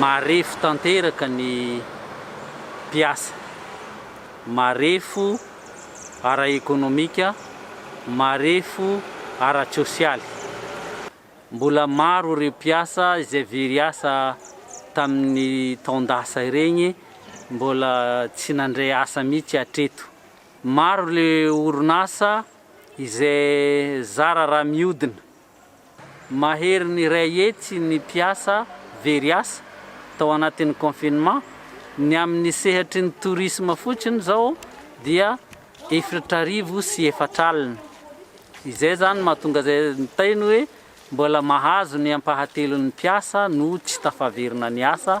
Marefo tanteraka ny mpiasa, marefo ara-ekonomika, marefo ara-tsosialy. Mbola maro ireo mpiasa izay very asa tamin'ny taon-dasa ireny mbola tsy nandray asa mihitsy hatreto. Maro ilay orinasa izay zara raha mihodina. Maherin'ny iray hetsy ny mpiasa very asa tao anatin'ny confinement. Ny amin'ny sehatry ny tourisme fotsiny izao dia efritra arivo sy efatra alina. Izay izany mahatonga izay nitainy hoe mbola mahazo ny ampahatelon'ny mpiasa no tsy tafaverina niasa.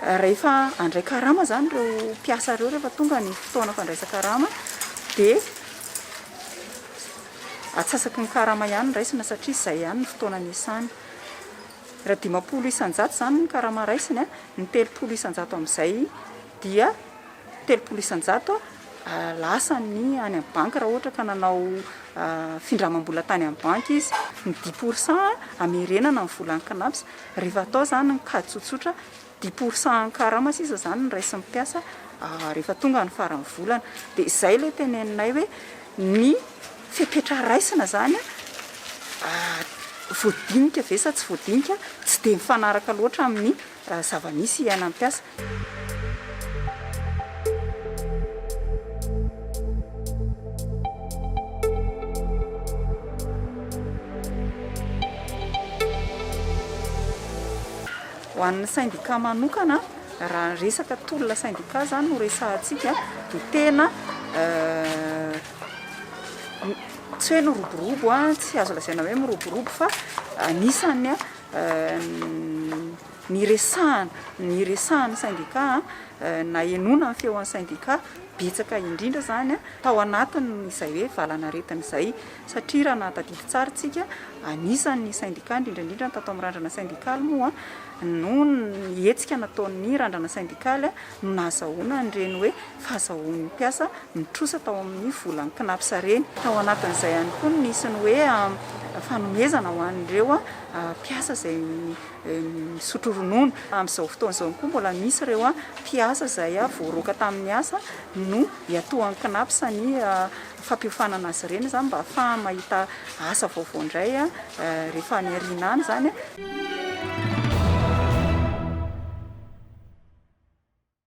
Rehefa handray karama izany ireo mpiasa ireo, rehefa tonga ny fotoana fandraisan-karama dia atsasaky ny karama ihany ny raisina satria izay ihany ny fotoana niasany. Raha dimampolo isan-jato izany ny karama raisiny, ny telopolo isan-jato amin'izay dia telopolo isan-jato lasa ny any amin'ny banky raha ohatra ka nanao findramam-bola tany amin'ny banky izy, ny dix pour cent hamerenana ny volan'ny Cnaps, rehefa atao izany ny kajy tsotsotra dix pour cent karama sisa izany no raisin'ny mpiasa rehefa tonga ny faran'ny volana, dia izay ilay teneninay hoe ny fepetra raisina izany voadinika ve sa tsy voadinika, tsy dia mifanaraka loatra amin'ny. Raha zava-misy iainan'ny mpiasa. Ho an'ny sendika manokana, raha ny resaka tolona sendika izany no resahantsika dia tena tsy hoe niroborobo, tsy azo lazaina hoe miroborobo fa anisan'ny Niresahana, niresahan'ny sendika na henoina ny feon'ny sendika betsaka indrindra izany tao anatin'izay hoe valanaretina izay satria raha nahatadidy tsara isika, anisan'ny sendika indrindra indrindra ny tato amin'ny randrana sendikaly moa no ny hetsika nataon'ny randrana sendikaly no nahazahoana an'ireny hoe fahazahoan'ny mpiasa mitrosa tao amin'ny volan'ny Cnaps ireny. Tao anatin'izay ihany koa no nisy ny hoe fanomezana ho an'ireo mpiasa izay misotro ronono. Amin'izao fotoana izao ihany koa mbola misy ireo mpiasa izay voaroaka tamin'ny asa no iatoan'ny Cnaps ny fampiofanana azy ireny izany mba hahafahany mahita asa vaovao indray rehefa any aoriana any izany.